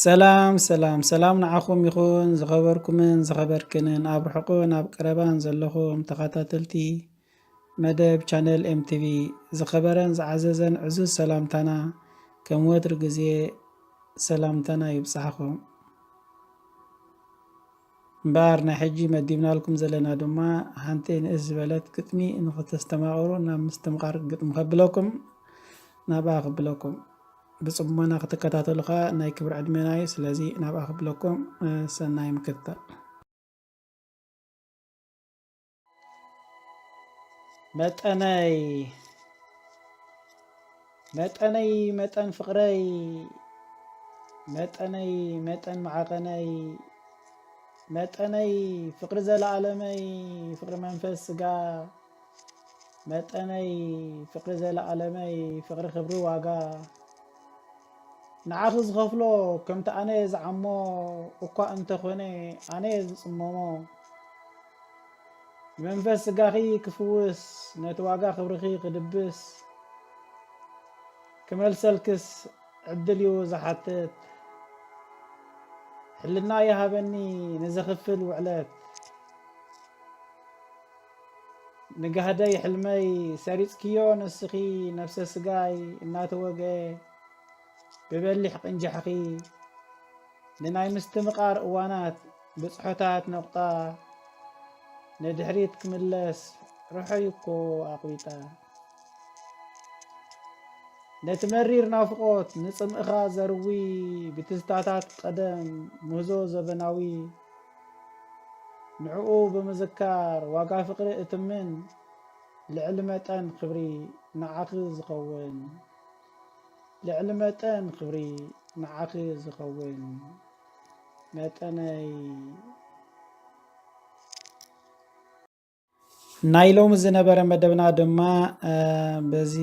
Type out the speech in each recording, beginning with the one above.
ሰላም ሰላም ሰላም ንዓኹም ይኹን ዝኸበርኩምን ዝኸበርክንን ኣብ ርሑቕን ኣብ ቀረባን ዘለኹም ተኸታተልቲ መደብ ቻነል ኤምቲቪ ዝኸበረን ዝዓዘዘን ዕዙዝ ሰላምታና ከም ወትሪ ግዜ ሰላምታና ይብፅሓኹም እምበኣር ናይ ሕጂ መዲብናልኩም ዘለና ድማ ሓንቲ ንእስ ዝበለት ግጥሚ ንክተስተማቕሩ ናብ ምስትምቓር ግጥሚ ከብለኩም ናብኣ ክብለኩም ብጽሞና ክትከታተሉ ከኣ ናይ ክብሪ ዕድሜና እዩ ስለዚ ናብኣ ክብለኩም ሰናይ ምክትታል። መጠነይ መጠነይ መጠን ፍቕረይ መጠነይ መጠን መዓቐነይ መጠነይ ፍቕሪ ዘለኣለመይ ፍቕሪ መንፈስ ስጋ መጠነይ ፍቅሪ ዘለኣለመይ ፍቅሪ ክብሪ ዋጋ ንዓኺ ዝኸፍሎ ከምቲ ኣነ ዝዓሞ እኳ እንተኾነ ኣነ ዝጽመሞ መንፈስ ስጋኺ ክፍውስ ነቲ ዋጋ ክብርኺ ክድብስ ክመልሰልክስ ዕድል እዩ ዝሓትት ሕልና ይሃበኒ ንዘኽፍል ውዕለት ንጋህደይ ሕልመይ ሰሪጽክዮ ንስኺ ነብሰ ስጋይ እናተወግኤ ብበሊሕ ቅንጃሕኺ ንናይ ምስትምቓር እዋናት ብጽሖታት ነቑጣ ንድሕሪት ክምለስ ርሑይ እኮ ኣቑቢጣ ነቲ መሪር ናፍቆት ንጽምእኻ ዘርዊ ብትዝታታት ቀደም ምህዞ ዘበናዊ ንዕኡ ብምዝካር ዋጋ ፍቅሪ እትምን ልዕሊ መጠን ክብሪ ንዓኺ ዝኸውን ልዕሊ መጠን ክብሪ ንዓኺ ዝኸውን መጠነይ ናይ ሎሚ ዝነበረ መደብና ድማ በዚ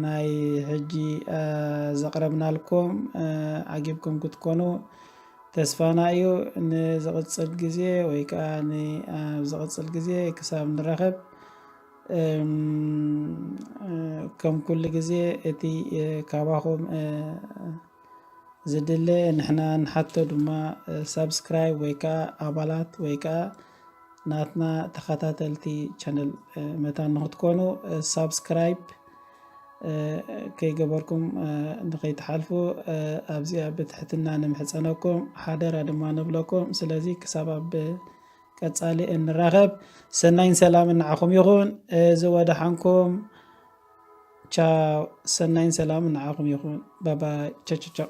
ናይ ሕጂ ዘቕረብናልኩም ዓጊብኩም ክትኮኑ ተስፋና እዩ ንዝቕፅል ግዜ ወይ ከዓ ኣብ ዝቕፅል ግዜ ክሳብ ንረኸብ ከም ኩሉ ግዜ እቲ ካባኹም ዝድለ ንሕና ንሓቶ ድማ ሳብስክራይብ ወይ ከዓ ኣባላት ወይ ከዓ ናትና ተኸታተልቲ ቻነል መታን ንክትኮኑ ሳብስክራይብ ከይገበርኩም ንከይትሓልፉ ኣብዚኣ ብትሕትና ንምሕፀነኩም ሓደራ ድማ ንብለኩም ስለዚ ክሳብ ኣብ ቀጻሊ እንራኸብ ሰናይን ሰላምን ንዓኹም ይኹን እዚ ወደሓንኩም ቻው ሰናይን ሰላምን ንዓኹም ይኹን ባባይ ቻቻቻው